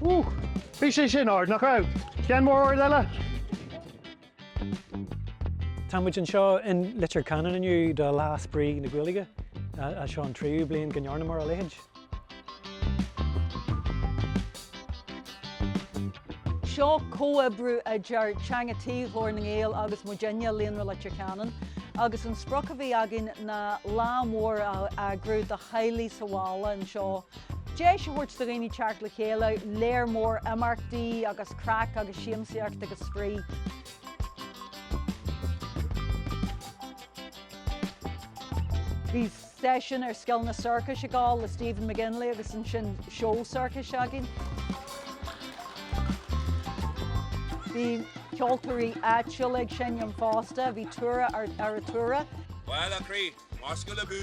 Ooh! Bhí sé sin ard, nach raibh? Déan mór ord eile! Tá muid anseo in Leitir Ceanainn inniu do Lá Spraoi na Gaeilge, é seo an tríú bliain go ndearnamar a leithéid. Seo comhoibriú idir Teanga Tí Ghlór na nGael agus muidinne i Líonra Leitir Ceanainn agus an sprioc a bhí againn ná lá mór a eagrú do theaghlaigh sa bhaile anseo Deis a thabhairt do dhaoine teacht le chéile, léir mór imeachtaí agus craic agus siamsaíocht agus spraoi. Bhí seisiún ar scileanna sorcais ag gabháil le Stephen McGinley agus ansin seó sorcais againn. Bhí ceoltóirí áitiúla ag seinm fosta, bhí Tura Arutura. Baile Chroí, Marscoil Abú!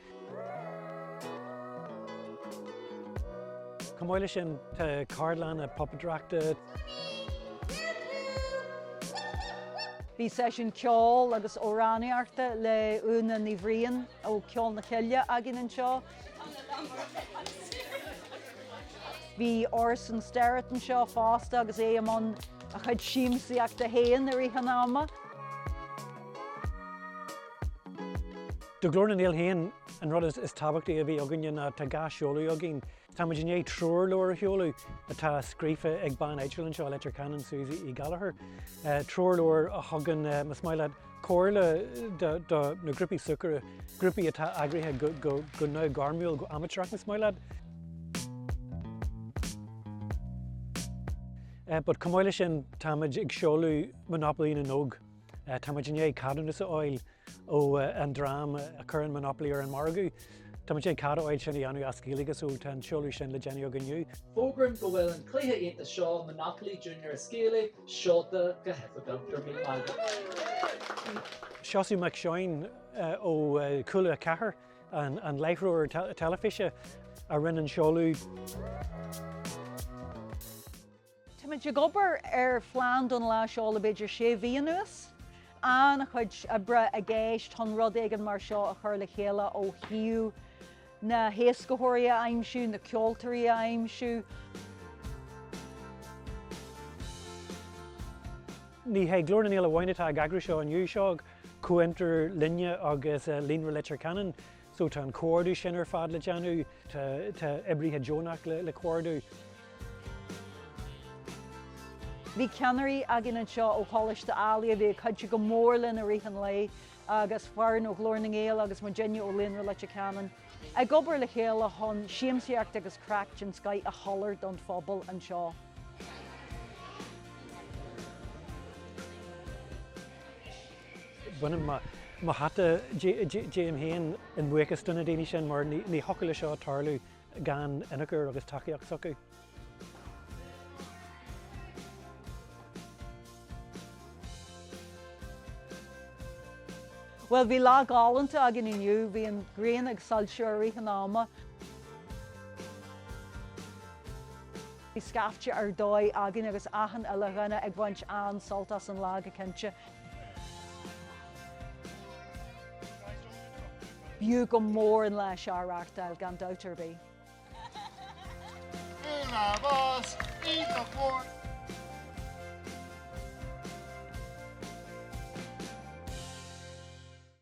Chomh maith leis sin tá ceardlanna puipéadóireachta. Bhí seisiún ceoil agus amhránaíochta le Úna Ní Bhriain ó Cheol na Coille againn anseo. Bhí Orson Sterritt anseo fosta agus é i mbun a chuid siamsaíochta féin ar feadh tamaill. Do Ghlór na nGael féin, an rud is tábhachtaí a bhí againne ná tá dhá seoladh againn. Táimid i ndiaidh treoirleabhar a sheoladh atá scríofa ag bean áitiúil anseo i Leitir Ceanainn, Suzy Uí Ghallchóir. Treoirleabhar a thugann, más maith leat, comhairle do na grúpaí súgartha, grúpaí atá eagraithe go neamhghairmiúil, go amaitéarach, más maith leat. But chomh maith leis sin, táimid ag seoladh Monopoly na nÓg. Táimid i ndiaidh ceadúnas a fháil. ó an dream a chuireann monopoly ar an margadh. Tá muid i ndiaidh cead a fháil sin a dhéanamh as Gaeilge so tá an seoladh sin le déanamh againn inniu. Fógraim go bhfuil an cluiche iontach seo, Monopoly Junior as Gaeilge, seolta go hoifigiúil. Go raibh míle maith agat. Seosamh Mac Seoin ó Cúla 4, an láithreoir teilifíse, a rinne an seoladh. Táimid ag obair ar phlean don lá seo le b'fhéidir sé mhí anuas. An-chuid oibre i gceist chun rud éigin mar seo a chur le chéile ó thaobh na héascaitheoirí a aimsiú, na ceoltóirí a aimsiú, Ní hé Glór na nGael amháin atá ag eagrú seo inniu, seo comhfhiontar linne agus Líonra Leitir Ceanainn. So tá an comhordú sin ar fad le déanamh, tá oibrithe deonach le comhordú. Bhí ceannairí againn anseo ó Choláiste Ailigh a bhí ag cuidiú go mór linn i rith an lae agus foireann ó Ghlór na nGael agus muidinne ó Líonra Leitir Ceanainn ag obair le chéile chun siamsaíocht agus craic den scoith a sholáthar don phobal anseo. Bainim mo hata díom féin i mbuíochas do na daoine sin mar ní thiocfadh le seo tarlú gan ionchur agus tacaíocht s'acu. Bhuel, bhí lá gálanta againn inniu, bhí an ghrian ag soilsiú i rith an ama. Bhí scaifte ar dóigh againn agus achan uile dhuine ag baint an-sult as an lá go cinnte. B'fhiú go mór an lá seo a reáchtáil, gan dabht ar bith.